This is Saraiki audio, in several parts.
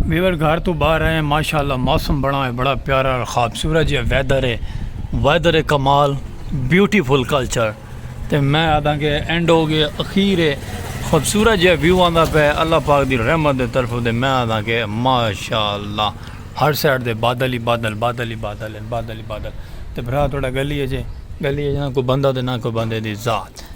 ویور گھر تو باہر آئے ہیں ماشاءاللہ موسم بڑا ہے بڑا پیارا اور خوبصورت یہ ویدر ہے ویدر کمال بیوٹیفل کلچر تے میں آدھا کہ اینڈ ہو گئے اخیر ہے خوبصورت یہ ویو آندا پہ اللہ پاک دی رحمت دے طرف دے میں آدھا کہ ماشاءاللہ ہر سائڈ دے بادل ہی بادل بادل ہی بادل بادل ہی بادل تے بھرا تھوڑا گلی ہے جے گلی ہے جہاں کوئی بندہ دے نہ کوئی بندے دی ذات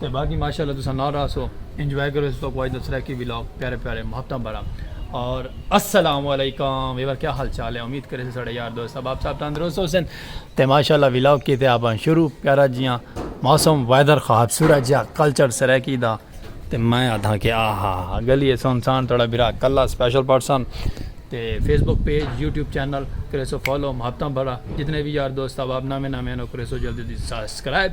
تے باقی ماشاءاللہ تساں نال راہسو انجوائے کرو اس تو کوئی دس رہے کی ولاگ پیارے پیارے محتم برا اور السلام علیکم ویور کیا حال چال ہے امید کرے سے سڑے یار دوست اب آپ صاحب تندرست ہو سن تے ماشاءاللہ ولاگ کی تے آپ شروع پیارا جیاں موسم ویدر خواب سورج یا کلچر سرے کی دا تے میں آدھا کہ آہا گلی ہے سن سان تڑا برا کلا سپیشل پرسن تے Facebook page YouTube channel کرے سو فالو محتم برا جتنے بھی یار دوست اب آپ نامے نامے انو کرے سو جلدی دی سبسکرائب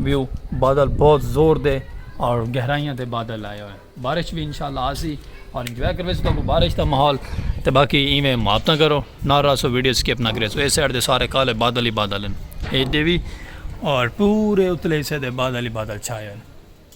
ویو بادل بہت زور دے اور گہرائیاں دے بادل آئے ہوئے بارش بھی انشاءاللہ آسی اور انجوائے کرو تو کو بارش دا ماحول تے باقی ایویں مات نہ کرو نہ راسو ویڈیو سکپ نہ کرے سو اے سائڈ دے سارے کالے بادل ہی بادل ہیں اے دے بھی اور پورے اتلے حصے دے بادل ہی بادل چھائے ہوئے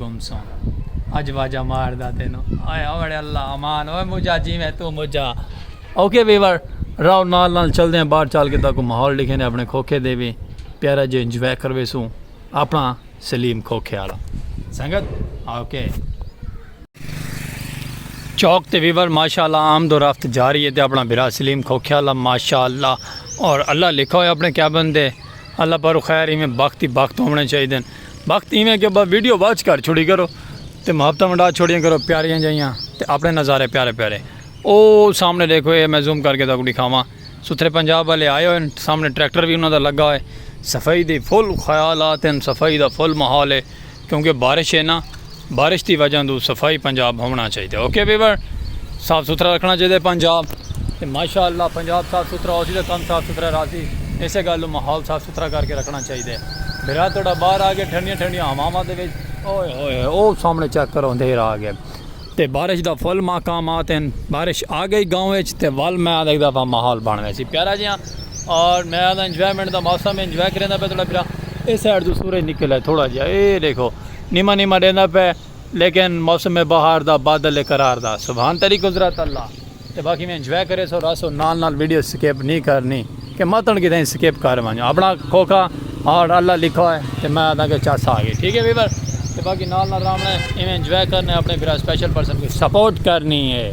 گم سوں اج واجہ مار دا تینو آئے اوڑے اللہ امان اوے مجھا جی میں تو مجھا اوکے ویور راو نال نال چل دے ہیں باہر چال کے تا کو ماحول لکھے نے اپنے کھوکھے دے بھی پیارا جے انجوائے کروے سوں اپنا سلیم کھوکھے آلا سنگت اوکے چوک تے ویور ماشاءاللہ عام دو رفت جاری ہے تے اپنا برا سلیم کھوکھے آلا ماشاءاللہ اور اللہ لکھا ہوئے اپنے کیبن دے اللہ پر خیر ہی میں بخت ہی بخت ہونے چاہیے دیں وقت ایویں کہ بس ویڈیو واچ کر چھوڑی کرو تے محبتاں ونڈا چھوڑیاں کرو پیاریاں جائیاں تے اپنے نظارے پیارے پیارے او سامنے دیکھو اے میں زوم کر کے تاکو دکھاواں ستھرے پنجاب والے آئے ہوئے سامنے ٹریکٹر بھی انہاں دا لگا ہوئے صفائی دی فل خیالات ہیں صفائی دا فل ماحول ہے کیونکہ بارش ہے نا بارش دی وجہ توں صفائی پنجاب ہوونا چاہیدے اوکے ویور صاف ستھرا رکھنا چاہیدے پنجاب تے ماشاءاللہ پنجاب صاف ستھرا ہوسی تے کم صاف ستھرا راسی ایسے گل نوں ماحول صاف ستھرا کر کے رکھنا چاہیدے بھرا تہاڈا باہر آ گیا ٹھنڈیاں ٹھنڈیاں ہواواں دے وچ اوئے ہوئے او سامنے چیک کرو اندھیر آ گیا تے بارش دا فل ماقامات ہیں بارش آ گئی گاؤں وچ تے ول میں آدھا ایک دفعہ ماحول بن ویسی پیارا جیاں اور میں آدھا انجوائمنٹ دا موسم انجوائے کریندا پیا تہاڈا بھرا اے سائڈ توں سورج نکل آئے تھوڑا جیاں اے دیکھو نیما نیما ڈیندا پئے لیکن موسم بہار دا بادل اے قرار دا سبحان تیڈی قدرت اللہ تے باقی وی انجوائے کریسو رہسو نال نال ویڈیو سکپ نی کرنی کہ متن کیتے سکپ کر ونجو اپنا کھوکھا ہارٹ اللہ لکھا ہوئے تے میں آدھاں کہ چس آگئی ٹھیک اے ویور تے باقی نال نال رہنا اے ایویں انجوائے کرنا اپنے بھرا سپیشل پرسن کو سپورٹ کرنی اے۔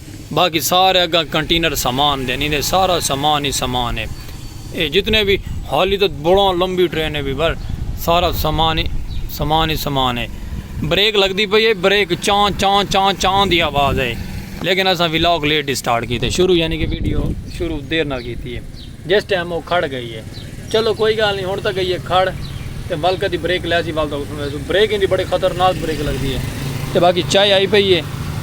باقی سارے اگاں کنٹینر سامان دے نیں دے سارا سامان ہی سامان ہے اے جتنے وی حالی تاں بڑاں لمبی ٹرین ہے وی بھر سارا سامان ہی سامان ہی سامان ہے بریک لگدی پئی ہے بریک چاں چاں چاں چاں دی آواز ہے لیکن اساں ولاگ لیٹ اسٹارٹ کیتے شروع یعنی کہ ویڈیو شروع دیر نال کیتی ہے۔ جس ٹیم او کھڑ گئی ہے۔ چلو کوئی گالھ نی ہنڑ تاں گئی ہے کھڑ تے ول کدی بریک لیسی ول تاں اٹھنڑ ویسوں۔ بریک ایندی بڑی خطرناک بریک لگدی ہے۔ تے باقی چائے آئی پئی ہے۔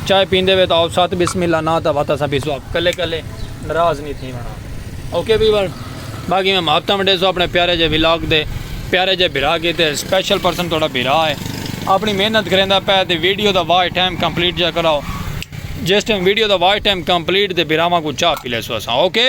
چائے پیندے وے تاں او ست بسم اللہ ناں تاں وت اساں پیسوں آپ کلے کلے نراض نی تھیونڑ ہاں۔ Okay people. باقی میں معافتاں ونڈیسوں اپنڑے پیارے جے ولاگ دے پیارے جے بھرا کیتے اسپیشل پرسن تہاڈا بھرا ہے۔ اپنڑی محنت کریندا پئے تے ویڈیو دا واچ ٹائم کمپلیٹ جیا کراؤ۔ جس ٹیم ویڈیو دا واچ ٹائم کمپلیٹ تے بھراواں کوں چاہ پی لیسوں اساں۔ اوکے۔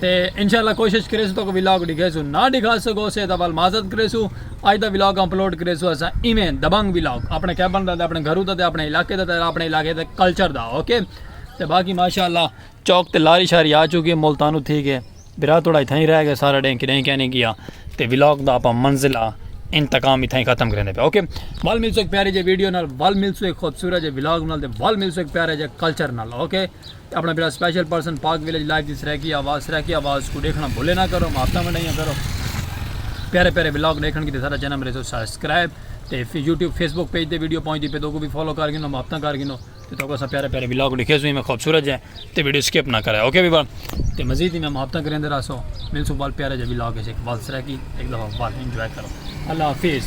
تے انشاءاللہ کوشش کریسوں تہاکوں ولاگ ڈکھیسوں نہ ڈکھا سگو سے تاں ول معذرت کریسوں اج دا ولاگ اپلوڈ کریسوں اساں ایویں دبنگ ولاگ اپنے کیبن دا تے اپنے گھرو دا تے اپنے علاقے دا تے اپنے علاقے دے کلچر دا اوکے تے باقی ماشاءاللہ چوک تے لاری شاری آ چکی ملتانو تھی گئے برا تھوڑا اتھاں ہی رہ گئے سارا ڈیں کڈیں کیا نہیں گیا تے ولاگ دا اپا منزلہ انتقام اتھاں ہی ختم کرنے پہ اوکے ول ملسو ایک پیارے جے ویڈیو نال ول ملسو ایک خوبصورت جے ولاگ نال تے ول ملسو ایک پیارے جے کلچر نال اوکے اپݨا بیڑا special person Pak village live دی سرائیکی آواز سرائیکی آواز کوں ݙیکھݨا بھلے نہ کرو محبتاں ونڈائیاں کرو پیارے پیارے ولاگ ݙیکھݨ کیتے ساݙا چینل مریسو سبسکرائب تے یوٹیوب فیس بک پیج تے ویڈیو پہنچدی پے تو کو وی فالو کر گھنو محبتاں کر گھنو تے تو کو اساں پیارے پیارے ولاگ ݙیکھے سو میں خوبصورت جے تے ویڈیو سکپ نہ کرے اوکے ویور تے مزید میں محبتاں کریندے رہسو ملسو بال پیارے جے ولاگ اچ ایک بال سرائیکی ایک دفعہ بال انجوائے کرو اللہ حافظ